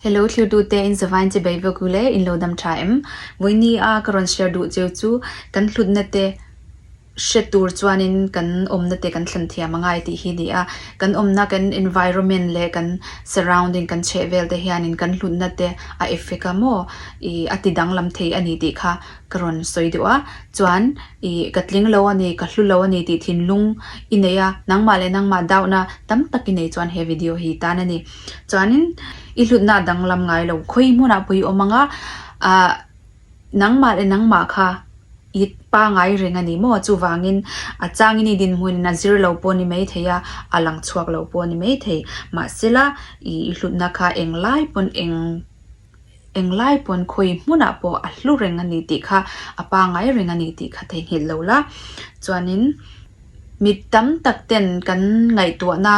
Hello thirtu te in zavain che bei vawk ule in lo dam tha em? Vawini a ka rawn share duh cheu chu kan hlutna te hre tur chuanin kan awmna te kan thlen thiam a ngai tih hi ni a. Kan awmna kan environment leh kan surrounding kan chhehvel te hianin kan hlutna te a effect a maw ih a tidang lam thei a ni tih kha. Ka rawn sawi deuh a, chuan i ka tling lo a ni, ka hlu lo a ni tih thinlung i nei a, nangmah leh nangmah dauhna tam tak i nei chuan he video hi tan a ni. Chuanin i hlutna danglam ngai lo, khawi hmunah pawh i awm ang a, ah nangmah leh nangmah kha i pangai reng a ni maw, chuvangin a changin i dinhmun in a zir lo pawh ni mai thei a, a lang chhuak lo pawh ni mai thei. Mahsela i hlutna kha eng lai pawn eng. englai pawn khawi hmunah pawh a hlu reng a ni tih kha a pangai reng a ni tih kha theihnghilh lo la chuanin mit tam tak ten kan ngaihtuahna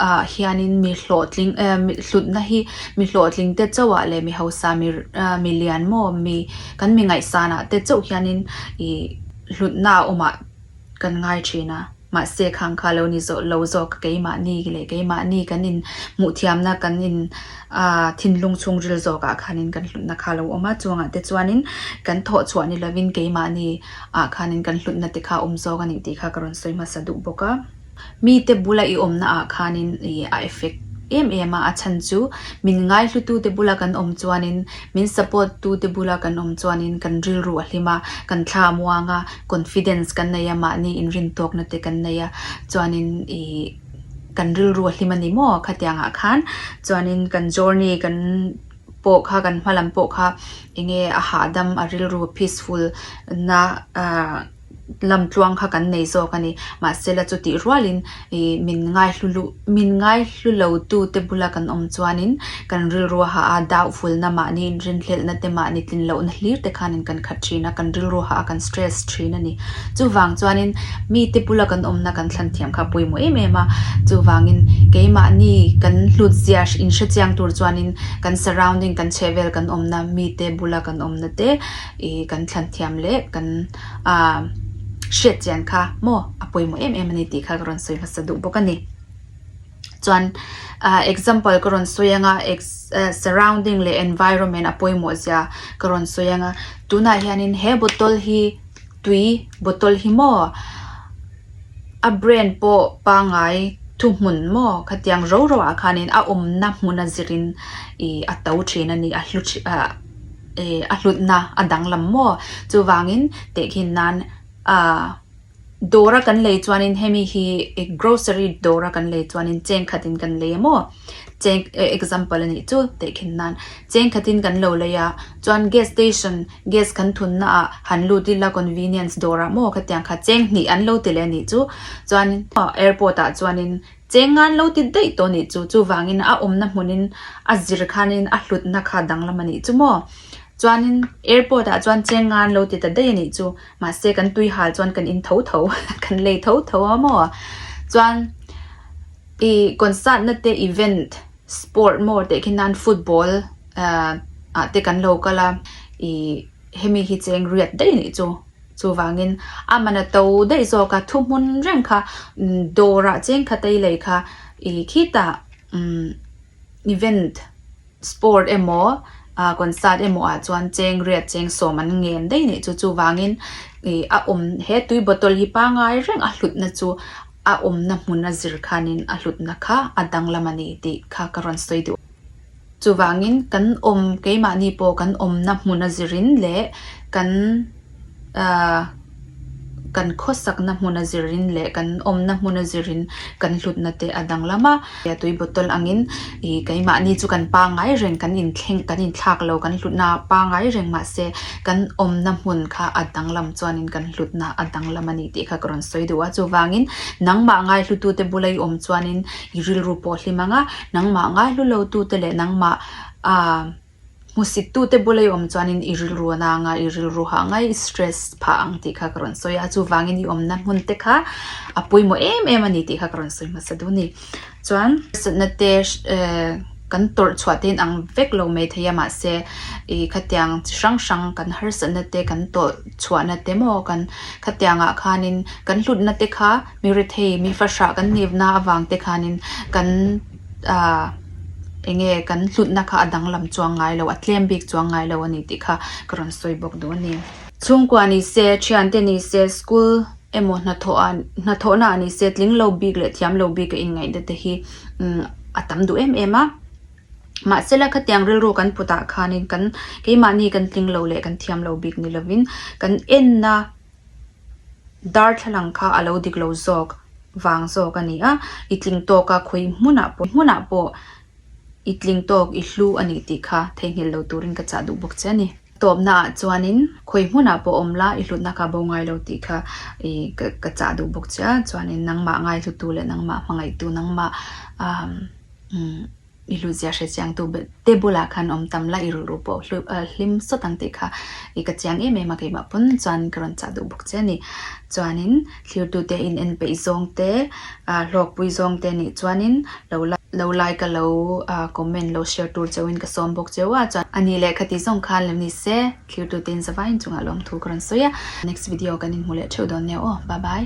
ah hianin mi hlawhtling eh mi hlutna hi mi hlawhtling te chauhah leh mi hausa mi ah mi lianmaw mi kan mi ngaihsanah te chauh hianin ih hlutna a awmah-- kan ngai thin a, mahse khang kha lo ni zawh lo zawk keimahni leh keimahni kan in hmuhthiamna kan in thinlung chhungril zawk ah khanin kan hlutna kha lo awm a, chuangah te chuanin kan thawh chhuah ni lovin keimahni ah khanin kan hlutna te kha awm zawk a nih tih kha ka rawn sawi hmasa duh bawk a. Mite bula i awmna ah khanin a effect em em a, a chhan chu min ngaihlu tu te bula kan awm chuanin, min support tu te bula kan awm chuanin kan rilru a hlim a, kan thla a muang a, confidence kan nei a, mahni inrintuakna te kan nei a, chuanin ih kan rilru a hlim a ni maw? Khatiang ah khan chuanin kan journey kan pawh kha kan hma lam pawh kha eng nge a hahdam a rilru peaceful na ah. lam tluang kha kan nei zawk a ni. Mahsela chutih rualin i min ngai hlu luh min ngai hlu lo tute bula kan awm chuanin kan rilru ha a, dauhvulna mahni, inrinhlelhnate mahni, tlin lohna hlirte khanin kan khat thin a, kan rilru ha a, kan stress thin a ni. Chuvang chuanin mite bula kan awmna kan thlan thiam kha pawimawh em em a, chuvangin keimahni kan hlut zia inhre chiang tur chuanin kan surrounding kan chhehvel kan awmna mite bula kan awmna te i kan thlan thiam leh kan hriat chian kha maw a pawimawh em em a ni tih kha ka rawn sawi hmasa duh bawk a ni chuan example ka rawn sawi anga surrounding leh environment a pawimawh zia ka rawn sawi anga tunah hianin he bottle hi tui bottle hi maw a brand pawh pangai thuhmun maw khatiang ro roah khanin a awmna hmuna zirin ih a to thin a ni a hlu thin ah. a hlutna a danglam maw chuvangin tehkhin nan ahh dawra kan lei chuanin hemi hi grocery dawra kan lei chuanin cheng khatin kan lei emaw cheng example anih chu tehkhin nan cheng khatin kan lo lei a chuan gas station gas kan thunna ah han lut ila convenience dawrah maw khatiang kha cheng hnih an lo ti leh anih chu chuan airport ah chuanin. Cheng ngan lo ti daih tawh nih chu, chuvangin a awmna hmunin a zir khanin a hlutna kha danglam a nih chu maw? Chuanin airport ah chuan cheng ngan lo ti ta daih a nih chu, mahse kan tuihal chuan kan in tho tho, kan lei tho tho a maw? Chuan i concert na te event sport maw teh khi nan football ah te kan lo kal a, i. Hemi hi cheng riat daih anih chu. Chuvangin a man a to daih zawk a, thuhmun reng kha dawrah cheng khat a i lei kha i khitah event, sport emaw, concert emaw-ah chuan cheng riat cheng sawm an ngen daih anih chu. Chuvangin a awm, he tui bottle hi pangai reng a hlutna chu a awmna hmun a zir khanin a hlutna kha a danglam a ni tih kha ka rawn sawi duh. Chuvangin kan awm keimahni pawh kan awmna hmun a zirin leh kan aah kan khawsakna hmun a zirin leh kan awmna hmun a zirin kan hlutna te a danglam a. Tia tui bottle angin ih keimahni chu kan pangngai reng kan inthleng kan inthlak lo kan hlutna a pangngai reng mahse kan awmna hmun kha a danglam chuanin kan hlutna a danglam a ni tih kha ka rawn sawi duh a. Chuvangin nangmah ngaihlutu te bula i awm chuanin i rilru pawh hlim ang a. Nangmah ngaihlu lotute leh nangmah a hmusittute bulaihawm chuanin i rilruana anga i rilru hah ngai i stress phah ang tih kha ka rawn sawi a. Chuvangin i awmna hmunte kha a pawimawh em em a ni tih kha ka rawn sawi hmasa dun ni. Chuan hrisatnate kan tawrh chhuah tein ang vek lo mai thei a mahse i khatiang chi hrang hrang kan harsatnate kan tawrh chhuahna te maw kan khatiangah khanin kan hlutnate kha. Mi rethei, mi fahrah kan nipna avangte khanin kan eng nge kan hlutna kha a danglam chuang ngai lo, a tlem bik chuang ngai lo a ni tih kha ka rawn sawi bawk duh a ni. Chhungkua ni se, thiante ni se, school emaw hnathawhnaah ni se, tling lo bik leh thiam lo bik a inngaihna te hi a tam duh em em a. Mahsela khatiang rilru kan putah khanin kan keimahni kan tling lo leh kan thiam lo bik ni lovin kan enna. Darthlalang kha a lo dik lo zawk vang zawk a ni a, i tling tawk a khawi hmunah pawh hmunah pawh i tling tawk i hlu a nih tih kha theihnghilh lo turin ka chah duh bawk che a ni. Tawpnaah chuanin khawi hmunah pawh awm la i hlutna kha bo ngai lo tih kha i ka chah duh bawk che a, chuanin nangmah ngaihlutu leh nangmah hmangaihtu nangmah umm umm. I hlutzia hre chiangtu te bulah khan awm tam la, i rilru pawh hlim sawt ang tih kha i ka chiang em em a, keimah pawn chuan ka rawn chah duh bawk che a ni. Chuanin thirtute inen peih zawng te, hlawkpui zawng te nih chuanin lo la, lo like ka lo comment lo share tur chauhin ka sawm bawk cheu a, chuan ani leh kha tih zawng khan lo ni se, thirtute in zavaiin chungah lawmthu ka rawn sawi a, next video kan inhmu leh theuh dawn nia aw, bye bye.